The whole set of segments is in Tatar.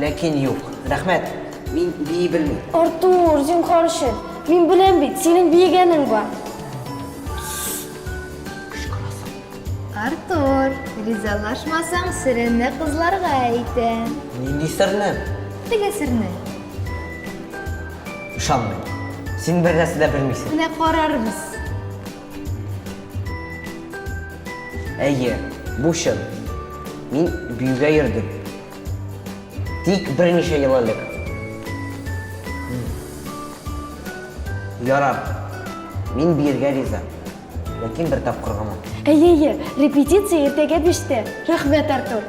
Ләкин юк. Рәхмәт. Мин бии белмим. Артур, зинхар өчен. Мин беләм бит, синең биегәнең бар. Артур, ризалашмасаң, серемне кызларга әйтәм. Нинди серне? Теге серне. Ышанмыйм. Син бер нәрсә дә белмисең. Менә карарбыз. Әйе, бу чын. Мин биюгә йөрдем. Тик берничә ел элек. Ярар. Мин биергә риза. Ләкин бер тапкыр гына. Әйе, әйе, репетиция иртәгә биштә. Рәхмәт, Артур.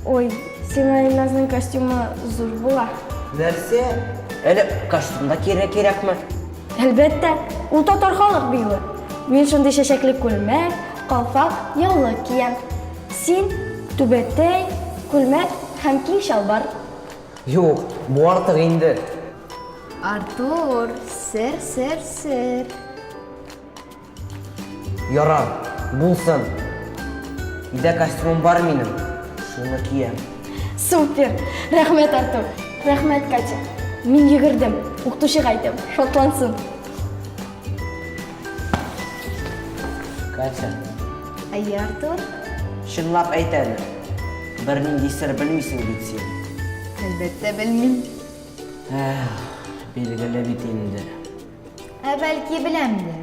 Ой, сиңа Илназның костюмы зур була. Нәрсә? Әле костюм да кире кирәкме? Әлбәттә, ул татар халык биюе. Мин шундый чәчәкле күлмәк, калфак, яулык киям. Син, түбәтәй, күлмәк һәм киң чалбар. Юк, бу артык инде. Артур, сер, сер, сер. Ярар, булсын. Өйдә костюмым бар минем, шуны киям. Супер! Рәхмәт, Артур! Рәхмәт, Катя! Мин йөгердем, укытучыга әйтәм, шатлансын. Катя, Әйе, Артур? чынлап әйт әле. Бернинди сер белмисең бит син. Әлбәттә, белмим. Эх, билгеле бит инде. Ә бәлки беләмдер.